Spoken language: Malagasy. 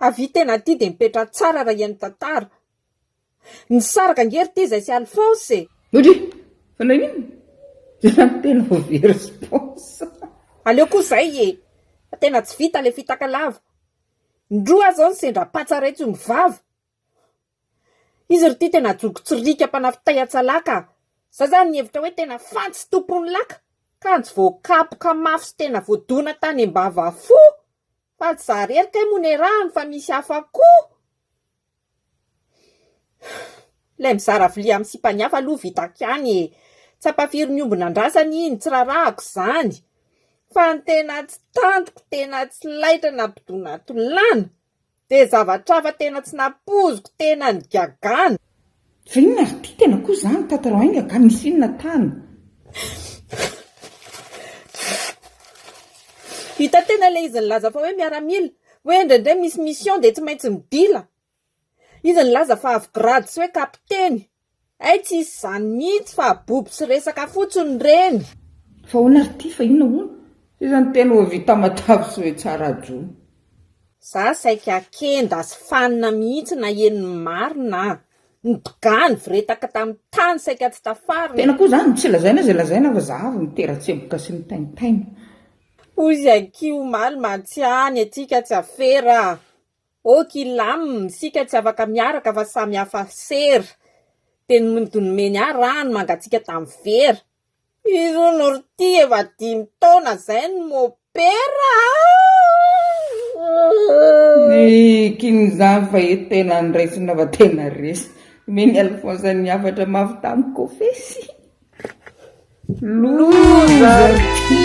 Avia tena aty dia mipetraha tsara raha hihaino tantara. Nisaraka ange ry Teza sy Alphonse e! Ory! Fa naninona? Tena tena ho very sy paosy. Aleo koa izay e! Fa tena tsy vita ilay fitaka lava. Indroa aho izao no sendra patsa raitso ny vava. Izy ry ty tena joky tsy riaka mpanafy tay an-tsalahy ka! Za zany nihevitra hoe tena fantsy tompon'ny laka! Kanjo voakapoka mafy sy tena voadona tany am-bava fo! Fa tsy za rery kay moa niarahany fa misy hafa koa Ilay mizara vilia amin'ny sipan'ny hafa aloha vitako ihany e! Tsapa firy ny omby nandrazany iny, tsy rarahako izany, fa ny tena tsy tantiko, tena tsy laitra nampidonatolàna dia zavatra hafa tena tsy nampoiziko, tena ny gagana. Fa inona ry ty tena koa zany tatarao enga ka misy inona tany. Hita tena ilay izy nilaza fa hoe miaramila, hoe indraindray misy mission dia tsy maintsy midila. Izy nilaza fa avy grade sy hoe kapiteny. Hay tsy hisy izany mihitsy fa abobo sy resaka fotsiny ireny. Fa ahoana ry ty fa inona hono izany tena ho vita matavy sy hoe tsara jono. Za saika kenda sy fanina mihitsy naheno ny marina a! Ny bgany vretaka tamin'ny tany saika tsy tafarina. Tena koa zany tsy lazaina zay lazaina fa za avy nitera-tsemboka sy nitaintaina. Hoy izy akia omaly Matsia ny antsika tsy afera a! ok ilam isika tsy afaka miaraka fa samy hafa sera, dia ny nomeny ahy rano mangatsiaka tamin'ny vera. Irony ry ty efa dimy taona zay no mopera ah. King zany fa eto tena ny resy na va tena resy. Mini Alphonse ny hafatra mafy tamy kofesy. Loza ry ty.